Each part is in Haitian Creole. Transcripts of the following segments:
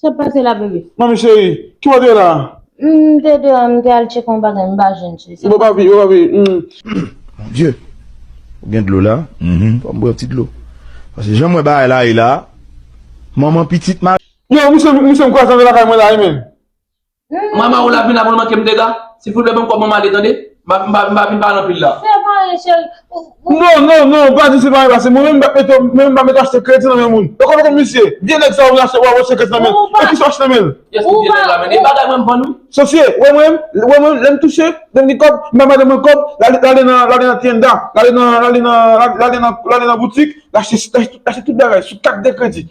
Sot pase la bebe. Manmi cheri, kibo te la? M te deyo m te al tcheke yon bagay m pa jwenn cheri. Bon papi, bon papi, humm. Mon Dieu! Ou gen dlo la? Humm. Fòm bwè yon ti dlo. Pase janm wè bagay la ye la, manman pitit ma. Yo, misye m kwazan de lakay mwen la wi menn. Mama ou la vin la pou l manke m dega? Silvouplè ban m kòb mama ale tande. M pa vin pale anpil la. Separe cheri. Non, non, non, pa di separe pase mwen menm m pa mèt achte kredi nan men moun. Ou konn kòm misye ye? Vye nèg sa yo vin achte wap achte kredi nan men l. E kisa w achte nan men l? Yes ki vye nèg la menm? E bagay mwen m vann wi. Sofie, wè mwen, wè mwen lè m touche, lè m gen kòb, m bay madanm mwen kòb, l ale nan tienda, l ale nan boutik, l achte tout bagay sou kat de kredi.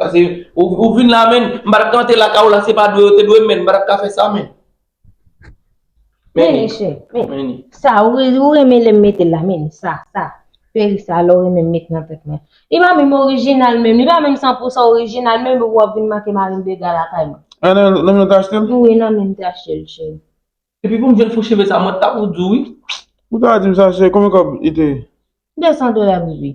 Pase ou vin la men, m pa tap ka antre lakay ou la, se pa dwe yo te dwe m men, m pa tap ka fè sa men. Meni chè, meni. Sa ou renmen lè m mete l la meni, sa, sa. Peri sa lè ou renmen m met nan tèt mwen. Li pa menm orijinal menm, li pa menm san pou san orijinal menm epi wap vin make mari m dega lakay mwen. A nan menm nan ou te achte l? Wi nan menm m te achte l cheri. Epi pou m jwenn fo cheve sa mwen ta pou di w wi. Ou ta di m sa cheri, konbyen kòb li te ye? 200 dola bebe.